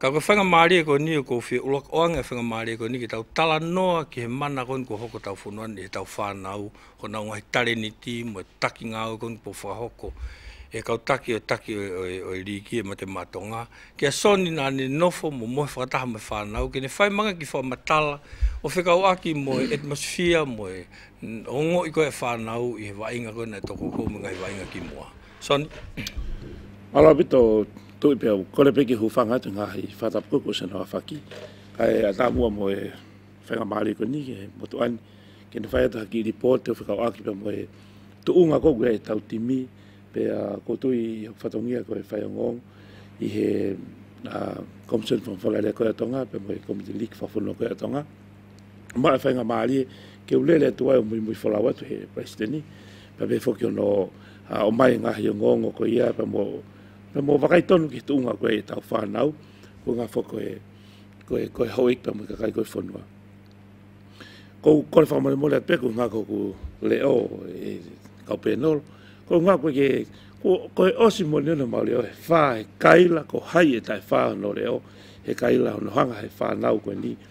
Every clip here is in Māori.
Ka koe whangamarie koe niu ko whi ulak oange whangamarie koe ni ki tau tala noa ki he mana koe ko hoko tau whonua ni he tau whanau ko nau ngahi tare ni ti mo taki nga au koe po whahoko e kau taki o taki o e riki e mate matonga ki a soni na ni nofo mo mohe whakataha mo whanau ki ne whai manga ki wha matala o whi kau aki mo e atmosphere mo e o ngo i koe whanau i he wainga koe na toko koe mo ngai wainga ki mua. Son. Arawhito, tui pea, kore peke hu whanga atu ngā hei whata puku sena wā whaki. Kai a tā mua mo e whenga māri ko ni, e mo tu an, ke ni whai atu haki report o whakau aki pea mo e tu unga ko kua e tau timi, pe a ko tui i hau whatongia ko e whai ngong, i he uh, commission from whakaria koe atonga, pe mo e committee leak whafuno koe atonga. mara whainga mārie, ke ulele atu ai o Muimui Folau atu he Paisteni, pa me whoki ono o mai ngā hio ngongo ko ia, pa mo, pa mo wakai tonu ki tuunga koe e tau whanau, ko ngā who koe, koe, koe hoik pa mo kakai koe whanua. Ko kore whamore mole atu e ko ngā koe ku le o e kau penol, ko ngā koe ke, ko, koe osi mo ni ono mauri o he whā, he kaila ko hai e tai whā ono le o, he kaila ono hanga he whanau koe ni,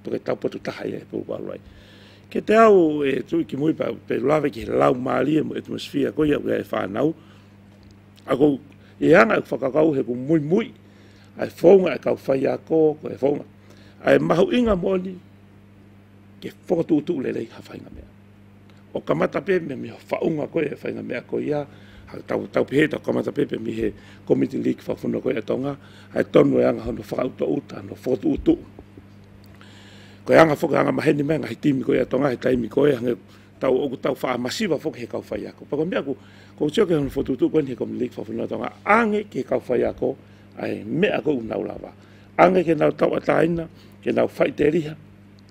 Ko te taupatu taha ia he pouparu ai. Ke te au e tui ki mui pa pe lawe ki he lau maari e mo atmosphere ko ia e whanau. A ko e anga e whakakau he ko mui mui. Ai whaunga e kau whai a ko ko e whaunga. Ai mahu inga moni ke whakatūtū le rei hawhainga mea. O ka matape me me whaunga koe e whainga mea koe ia, hai tau tau pehe tau ka matape pe mi he komiti leak fa funa koe e tonga, hai tonu e anga hono whaka uta uta no fotu utu. Koe anga foka anga maheni menga hai timi koe e tonga hai taimi koe hange tau oku tau wha masiva foka he kau whai ako. Pako mea ku, ko tio ke hono fotu utu koe ni he komiti leak fa funa tonga, ange ke kau whai ako, ai mea ko unau lava. Ange ke nau tau ataina, ke nau whai te riha,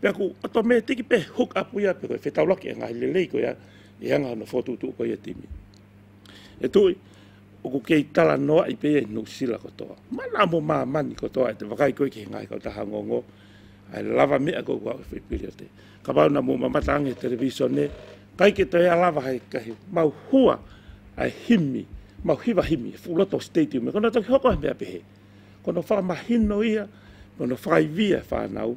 Pea ko ata me tiki pe hook up ia pe koe whetau laki e ngahi lelei koe ia e anga ana fotu tu koe ia timi. E toi, o ko kei tala noa i pe no sila kotoa. Mana mo ma mani kotoa e te wakai koe ki he ngahi kau taha ngongo. Ai lava mea koe kua uwhi piri o te. Ka wau na mo mamata ange television ne, kai ke toi a lava hai kahi mau hua ai himi, mau hiwa himi, full lot of stadium, e kona toki hoko hai mea pehe. Kono wha mahino ia, kono whai via whanau,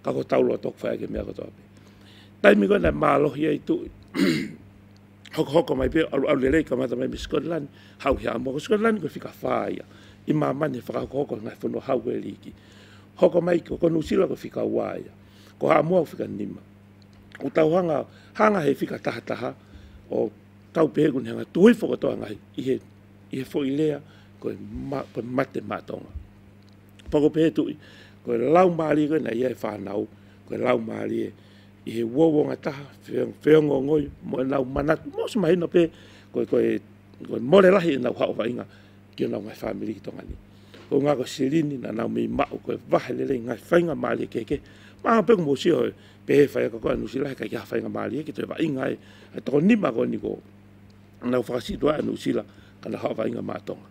Ka ko taurua toku whai ake mea katoa pe. Taimi koe nei maalohi ai tu hoko hoko mai pe alu alu le rei ka mata mai mi Scotland hau hea mo Scotland ko fika faia. I ma mani whaka hoko hoko ngai fono hau koe riki. Hoko mai ko konu sila ko fika waia. Ko haa mua fika nima. Ko tau hanga hanga he fika taha taha o tau pe hegu hanga tui foko toa ngai i he i he fo i lea ko mate matonga. Pakopehetui, Ko e lau mārie koe nei e whānau, ko e lau mārie i he uauonga taha, wheonga ngoi, mo e nau manatu, mo se mahi no pe, ko e, ko e, ko e more rahi e nau hao whainga ki o nau ngai whāmiri ki tonga ni. Ko ngā ko Sirini na nau mei ma'u ko e wahe lelei ngai whainga mārie ke ke, ma pe ko mo siho e, pe he whai aka koe anu sila he kai ki ha whainga mārie ki to e wa inga e, e toko ni ma ko ni ko, nau whakasitua anu sila ka nau hao whainga mā tonga.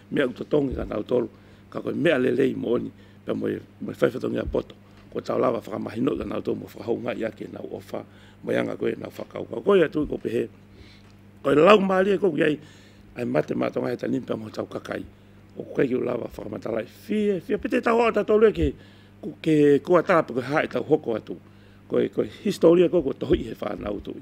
Mea uta tongi ka nau tolu, ka koe mea lelei mo oni, pea mo e whaiwhatongi a poto. Ko tau lawa whakamahi noi ka nau tou mo whakahoungai ake nau owha, mo eanga koe nau whakaukau koe atu i ko pehe koe lau maari e koki ai, ai mate ma tonga he tanin pea mo tau kakai o ko keiki u lawa whakamatalai fie, fie pete tau ata tolu e ke ku ke kua tape koe hae tau hoko atu koe koe historia koe kua tohi he whanau tui.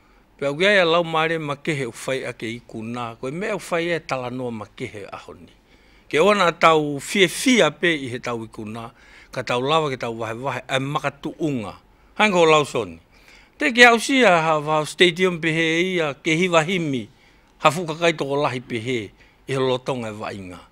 Pea uiai a lau maare ma kehe u whai ake i ku na, koe mea u whai e tala noa ma kehe a honi. Ke oana a tau fiefie a pe i he tau i ku na, ka tau lawa ke tau wahewahe a maka tu unga. Hainga ho lau soni. Te ke au si a ha vau stadium pe he i a ke hiwa himi, ha fuka kai toko lahi pe he, i he lotonga e wa inga.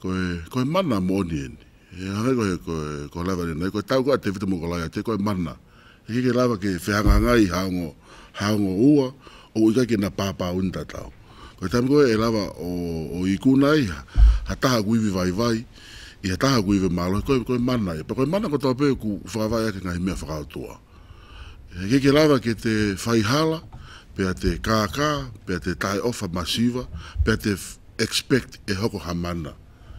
Koe, koe mana mo onieni. E hanga koe, koe, koe lava ni nei, koe tau koe te whitu mo koe laia te koe mana. E keke lava ke whehanga nga i haongo, haongo ua, o uika ke na pāpā uni tatau. Koe tam koe e lava o, o i kuna i ha, ha taha ku iwi vai vai, i ha taha ku iwi malo, koe, koe mana. E pa koe mana ko tau pe ku whakawai ake nga himea whakautua. He keke rawa ki te whai hala, pea te kākā, pea te tae owha ma Siva, pea te expect e hoko ha mana.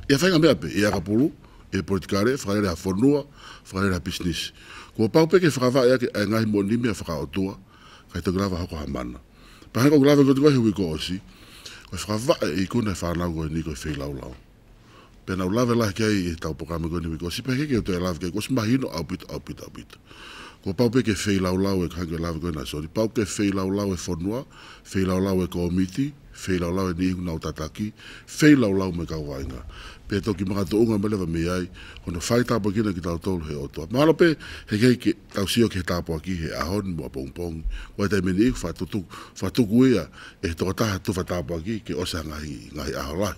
I a whainga mea pe, i a ka pulu, i a politikare, whakarere ha whanua, whakarere ha business. Kua pau peke whakawae ake a Ngahi Moni mea whakaotua, kai toku rawa hoko ha mana. Pahanga koku rawa ki o te wahi hui ko Osi, koe whakawae i konei whanau koe ni koe whei laulau. Pena u love e lahi kei i tau poka me koe niwi ko sipe keke uto e love kei ko si mahi no au pito au pito au pito. Ko pau pe ke fei lau lau e kai ke love koe na sori pau ke fei lau lau e fonua, fei lau lau e komiti, fei lau lau e nihi kuna o tataki, fei lau lau me kau wainga. Pe toki maka to unga me lewa me ai, kono fai tapa kina ki tau tolu he oto. Malo pe he kei ke tau sio ke he tapo aki he ahon mua pong pong. Wai tai me ni iku fa tutu fa tuku ia e he toka taha tufa tapo aki ke ose hangahi ngahi aho lahi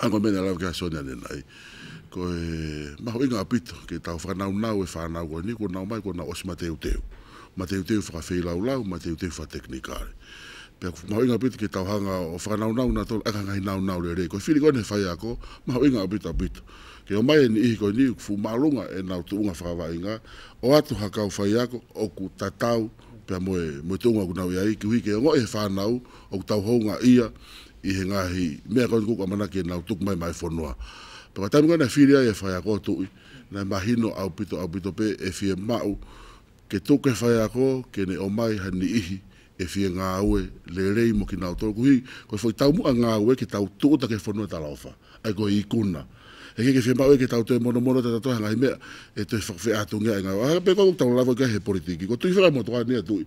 Hang on mena lau kia sonia ne nai ko e maho i nga pito ke tau whakanau nau e whanau koe ni ko nau mai ko na osi ma teu teu ma teu teu whaka whei lau lau ma teu teu wha teknikare pe ko maho i nga pito ke tau hanga o whakanau nau na tolu aka ngai nau nau re re ko fili koe ne whai ako maho i nga pito pito ke o mai e ni ihi koe ni fu malunga e nau tu unga whakava i nga o atu hakau whai ako o ku tatau pe moe moe tu unga ku nau i ai ki hui ke o ngo e whanau o ku tau hou nga ia i ēngāhi mea koutou kua whakamanakia nāu tuku mai māu whanoa. Pea kua tae mai nei whiri ai e whai ako atu ui, nei mā hino au pito au pito pē e whie māu, kei tō kei whai ako, kei nei o mai hai ni ihi, e whie ngā aue, rērei mo ki nāu tō kuhi, koi whoi tau mua ngā aue ki tāu tūuta kei whanoa tā Laofa, ai koi i kuna. He kei kei whie māu e kei tāu toe monomono tā tātou hai ngāhi mea e toe whakawheatungea e ngāu, ā, pea koutou tau rāwai kai he poritiki, kua tuhi whakamotoa nei atu ui.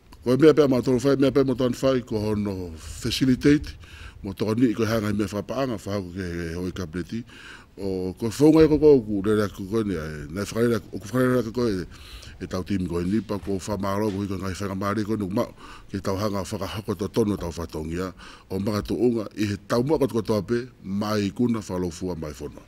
Koe mea pea mā tōu whai, mea pea mō tāna whai, kua hono facilitate, mō tō nui, koe hāngai mea whapaanga, whahau ke he hoi kabineti, o koe whaungai ko koe, ku rere aku koe nei, nei whakarere aku, oku whakarere aku koe, e tau tīmi koe nei, pa ko whamāro, ko hika ngai whainga māre koe nei, ma, ke tau hanga whakahako tō tonu tau whatongia, o maka tō unga, i he tau mua koe tō ape, mai kuna whalofua mai whono.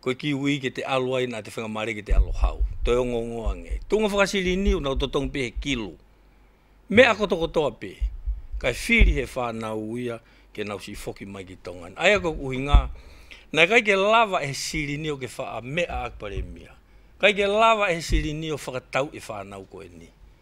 Koe ki uii ki te alo ai na te whenga mare ki te alo hau. Toi ongongo ange. Tunga whakasirini una uto tongu pe he kilo. Me ako toko toa pe. Kai whiri he whanau uia ke nau si foki mai ki tonga in. Aia koe uhi nga. Na kai ke lava e he sirini o ke wha a me a ak paremia. Kai ke lava e he sirini o whakatau i whanau koe ni.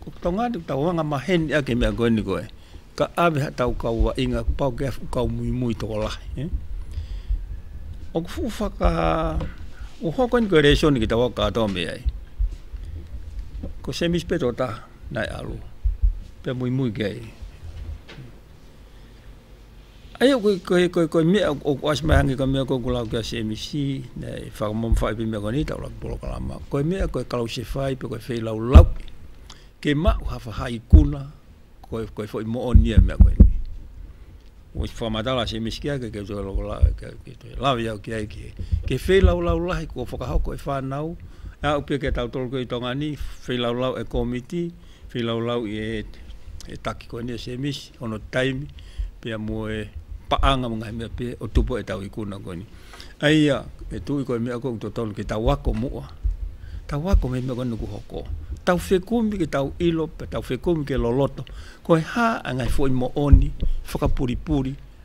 Ko tau ngāti tau hanga ma heni ake mea koe ni koe. Ka aweha tau kau wa inga ku pau ke afu kau mui mui toko lahi. Eh? O ku fuku whaka o hoko ni koe reisio ni ki tau waka ato me ai. Ko semis peto ta nai alo. Pe mui mui ke ai. Aia koe mea, ko Ice Maihangi ka mea koe ko lau kia CMC, nei, whakamam whai pe mea koe nei tau laki polo kalama. Koe mea, koe kalau se whai pe koe whei lau lau. Ke mau ha whahai kuna, koe koe fwoi mo o nia mea koe nei. Koe si whamatala CMC kia ke keutu alo kola, kia keutu alo. Lau iau kia eki he. Ke whei lau lau lahi kua whakahau koe whanau, a upe kia tau tolu koe i tonga ni, whei lau lau e komiti, Whīlaulau i e taki koe nei Semis, ono taimi, pea mua e paanga mo ngahi mea pea o tupu e tau i kuna koe nei. Eia, e tu i koe mea koe to tonu ki tau ako mua, tau ako me mea koe nuku hoko, tau whekumi ki tau ilo, pe tau whekumi ke loloto, koe ha a ngahi fo i mo oni, whakapuripuri,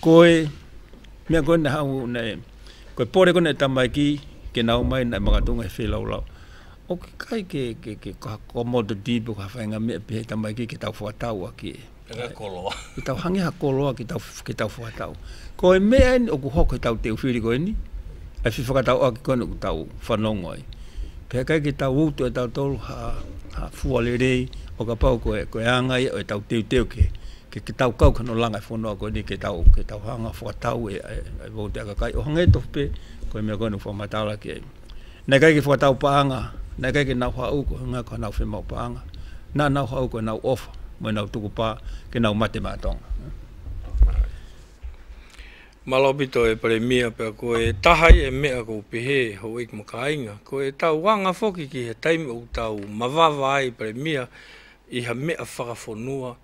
Koe, mea koe nei hau nei, koe pore koe nei tamaiki, ke nau mai nei makatunga he whelaulau. O ke kai ke, ke, ke kaha kua mo te deep kaha whainga mea pe he tamaiki ke tau whatau a ke. Ke koloa. Ke tau hangi ha koloa ke tau, ke tau whatau. Koe mea ni, o ku hok he tau te uwhiri koe ni, ai whi whakatau aki koe nei ku tau whanongoi. Pe kai ke tau utu e tau tolu ha, ha fualerei, o ka pau koe, koe angai o e tau teu teu ke, Kei te tau kau kano langa e whanau koe nei kei tau, kei tau hanga whakatau e, e, e vau te akakai. O hanga e tofu pe, koe mea koe no whamata ala ki ei. Nei kai ke whakatau paanga, nei kai ke nau hau ko hanga ka nau whemau paanga. Na nau hau ko nau ofa, mo nau tuku pa, ke nau mate ma tonga. Malopito e Paremia pea ko e tahai e mea ko Pehe ho Wake Makainga, ko e tau wanga foki ki he taimi o tau mavawa ai Paremia i ha mea whakafonua,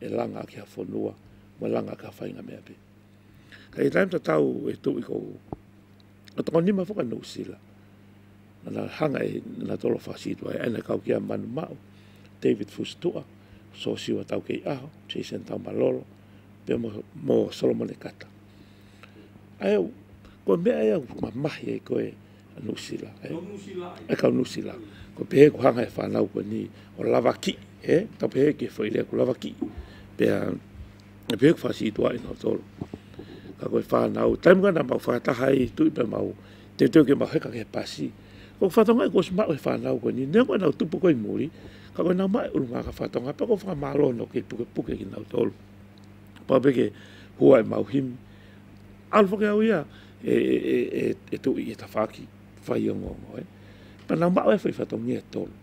e langa kia whanua, me langa kia whainga mea pe. Ka i taimta tau e tu i kou, a toko nima whaka no sila, ana hanga e na tolo whasitu ai, ana kau kia manu mau, David Fustua, so siwa tau kei aho, Jason tau malolo, pe mo, mo Solomon e kata. Ai au, koe mea e au, ma mahi e koe, Nusila e. Ko Nusila e. E kau Nusila. Ko pehe ko hanga e whanau ko ni o lava ki e. Ka pehe ke whai lea ko lava ki. Pea e pehe ko whasi tua ina o tolu. Ka koe whanau. Taimu gana mau whakataha i tui pe mau. Te teo ke mau heka ke pasi. Ko whatonga e kos mau e whanau ko ni. Nea koe nau tupu koe muri. Ka koe nau mai urunga ka whatonga. Pea ko whakamalo no ke puke puke ina o tolu. Pau peke hua e mau himi. Alfa ke au ia. E, e, e, e, e tō i e tawhāki whai o ngō ngō, e. Pa nā māu e whai whatongi e tōlu.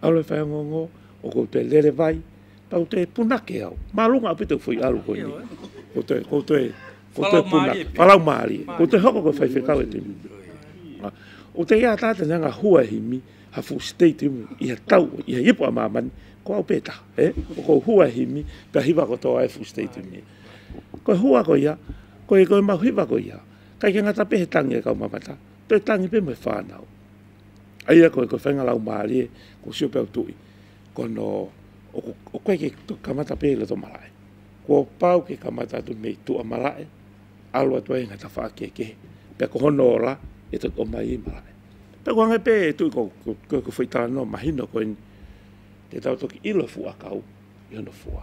Au le whai o ngō ngō, o kou te lere vai, pa ute e punake au. Mā runga api tau whai aru koe ni. Ko te, ko te, ko te punake, palau mārie. Ko te hoko koe whai whekau e te mi. O te ia tāte nā ngā hua hi mi, ha full stay te mu, i ha tau, i ha ipo a māmani, ko au pētā, e, o kou hua hi mi, pia hiwa ko tō ai full stay te mi. Koe hoa ko ia, koe koe mau hiwa ko ia, kai ke ngata pe he tangi e kau mamata, pe tangi pe moe whanau. Aia koe koe whenga lau maarie, ko sio peo tui, ko no o koe ke kamata pe le to marae. Ko pau ke kamata atu me i tua marae, alo atu e ngata wha ke ke, pe ko hono ora e to to mai i marae. Pe ko hange pe e tui ko koe ko whaitara no mahino koe ni, te tau toki ilo fua kau, i hono fua.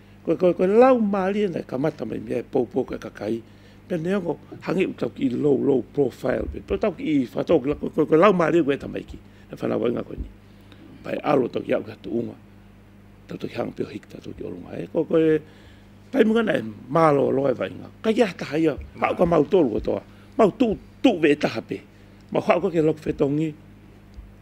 Koe, koe, koe, lau mārie nei, ka mata mai mea e pou pou kai ka kai, pe ne ongo, hangi u tau ki i low, low profile, pe pe tau ki i whatau ki la, koe, koe, koe, lau mārie koe e tamaiki, e whanau wai ngā koe ni. Pai alo tau ki au ki hatu unga, tau tau ki hanga peo hiki, tau tau ki olunga, e koe, koe, pai munga nei, mālo alo e wai ngā, kai ki ahata hai au, hau ka mau tolu o toa, mau tu, tu ve e taha pe, mau hau ka ke lok whetongi,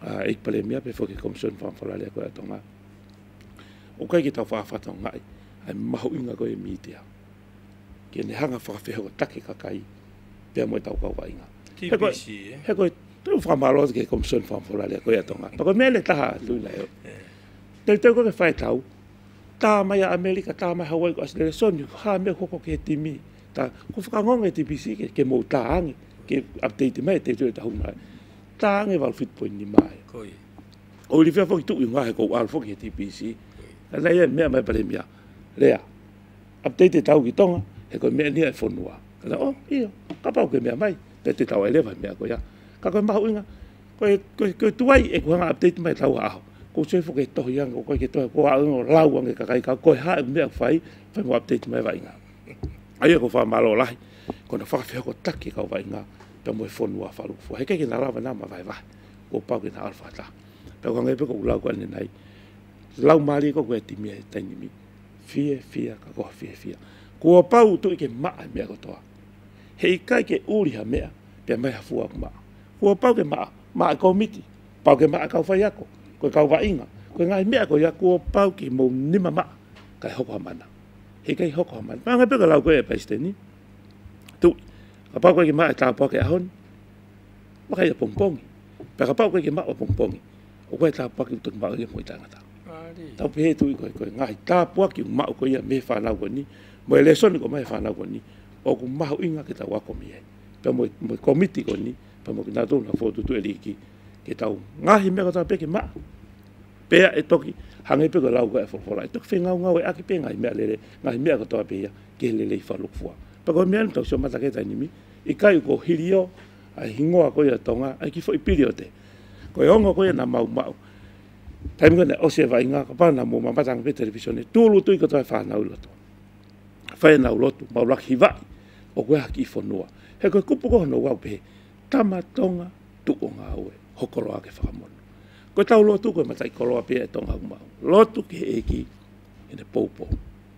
a ik palemia pe foki komison fan falale ko ato nga o kai kita fa fa tong ngai ai maho inga ko e mitia ke ne hanga fa fe ho take ka kai pe mo tau ka wa inga he ko he ko tu fa malo ke komison fan falale ko ato nga pa ko mele ta ha lu na yo te te ko ke fa tau ta mai a amerika ta mai hawaii ko asle son ni ha me ko ko ke timi ta ko fa ngong e tbc ke ke mo ta ang ke update mai te tu ta hu mai Taange wal fit poin ni mai. Koi. O li fia foki tu inga he ko al foki he TPC. Koi. Nei e mea mai pare mia. Rea. Update e tau ki tonga. He koi mea nia e fonua. Kala o io. Kapa o ke mea mai. Pe te tau ai lewa mea ko ia. Ka koi mahu inga. Koi koi koi tuai e kuhanga update mai tau aho. Ko soi foki e tohi anga koi ke tohi ko a inga lau ange kakai ka koi ha e mea fai. Fai mo update mai wa inga. Aia ko wha malo lahi. Kona whawhia ko taki ka wa inga. Pea moe whonua wha ruku wha. He kei kena rawa nama vai vai. Kua pau kena alfa ta. Pea kua ngai peko ulau kua nenai. Lau mali ko kue ti mea tainimi. Fie fia ka koha fie fia. Kua pau tu ike maa mea kotoa. He ikai ke uri ha mea. Pea mai ha fua kuma. Kua pau ke maa. Maa kau miti. Pau ke maa kau fai ako. Kue kau wa inga. Kue ngai mea ko ia kua pau ki mou nima maa. Kai hoko ha mana. He kai hoko ha mana. Pea ngai peko lau kue e paisteni. Tu, ka pau koe ki maa e tāpua ke ahon, ma kai e pongpongi. Pea ka pau koe ki maa wa pongpongi, o koe e tāpua ki uto ki maa ia mo i tāngata. Tau pehe tu i koe, koe ngahi tāpua ki maa uko ia me whanau koe ni, mo e lesoni ko mai whanau koe ni, o ku mahu inga ki tau akomi e. Pea mo i komiti koe ni, pea mo ki nā tōna whōtutu e riki, ki tau ngahi mea kata peke maa, pea e toki, hange peke lau koe e whorwhora, e toki whengau ngau e aki pea ngahi mea lere, ngahi mea katoa pea ia, Kehelelei Falokfua. Pakau mea anu tau sio matake tainimi, i kai ko Hirio, ai hingoa koe a Tonga, ai ki fwoi piri o te. Ko e ongo koe na mau mau. Taimu kane o se vai nga ka pana mo mamatanga pe televisione, tu lutu i ka toa whana u loto. Whena u loto, mau laki vai, o koe haki i fonua. He koe kupu koho no wau pehe, tama Tonga, tu o nga ue, hokoro ake whakamono. Koe tau lotu koe matai koroa pia e Tonga u mau. Lotu ke e ki, ene poupou.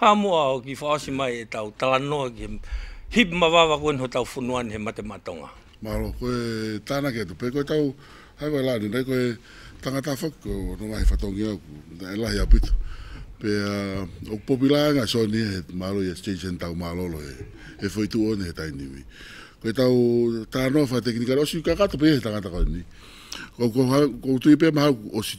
Hamoa hoki whaosi mai e tau tala noa ki hip ma vava koe noho tau whunua ni he mate ma tonga. Mahalo koe tāna kei te pei koe tau hai wai la ni nei koe tangata whak ko no wahi whatongi au ko e lahi a pito pe a ok popi la nga so ni he malo yes change and tau malo lo he he foi tu one he tai ni mi koe tau tāna wha tekini karo si ka ka to pe he tangata kau ni ko ko ha ko tu i pe mahau o si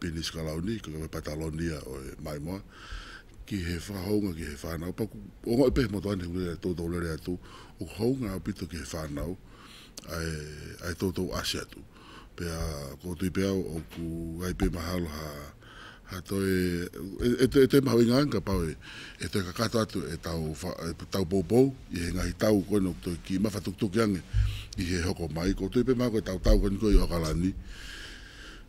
Penis Kalauni, ka kawe Patalonia o e Maimoa, ki he whakahounga ki he whānau paku. O ngā upe he motu anei ure e tōtō rere atu, o ka hounga a pito ki he whānau, ae, ae tōtō asi atu. Pea ko Tuipeau oku aipe mahalo ha, ha toe, e, e toe mahau i ngā anka pau e, e toe kakato atu e tau, e tau poupou i he ngahi tau koe noku toe ki mawha tukutuki ange i he hoko mai. Ko Tuipe mahau koe tau tau koe ni koe i Oakalani,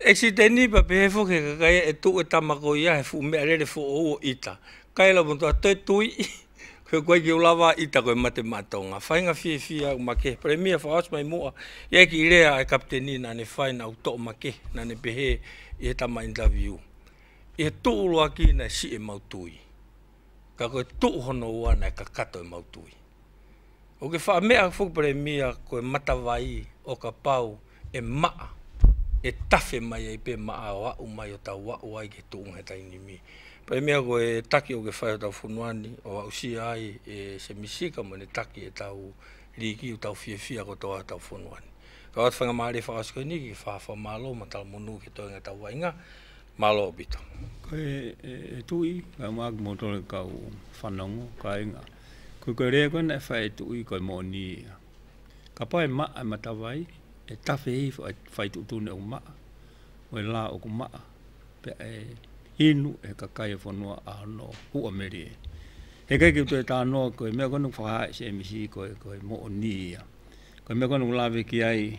Esi te nipa pe he foke ka kai e tu e tama ko ia he fu mea rere fo o uo ita. Kai la mo ta te tui i koe koe ki o lava ita koe mate matou nga whainga fie fie au ma ke Premier fa os mai mua ia ki rea e Kapiteni nane whai na u to ma ke nane pehe i he tama interview i he tu u loa ki na si e mau tui ka koe tu hono u ana e ka kato e mau tui. Oke wha mea whupare mia koe matawai o ka pau e maa e tawhe mai ai pe maa o au mai o tau wau ai ke tuu he taini mi. Pai mea koe e taki o ke whai o tau whunuani o au sia ai e se misika mo ne taki e tau riiki u tau whiawhia ko toa tau whunuani. Ka watu whanga maa re wha asko ini ki wha wha maa lo matala mo nuu ke toenga tau wainga maa lo obito. Koe e tui, ka maaku mo tole kau whanongo, ka inga. Ko koe rē kona e whai tu i koe mōni ia. Ka pai ma e matawai, e tawhi hei whai tu tūne o maa, o e laa o ku maa, pe e inu e kakai e whanua a no hua meri e. He kei ki tu e taa noa koe mea kona ku whakahae se e misi koe koe mōni ia. Koe mea kona ku lawe ki ai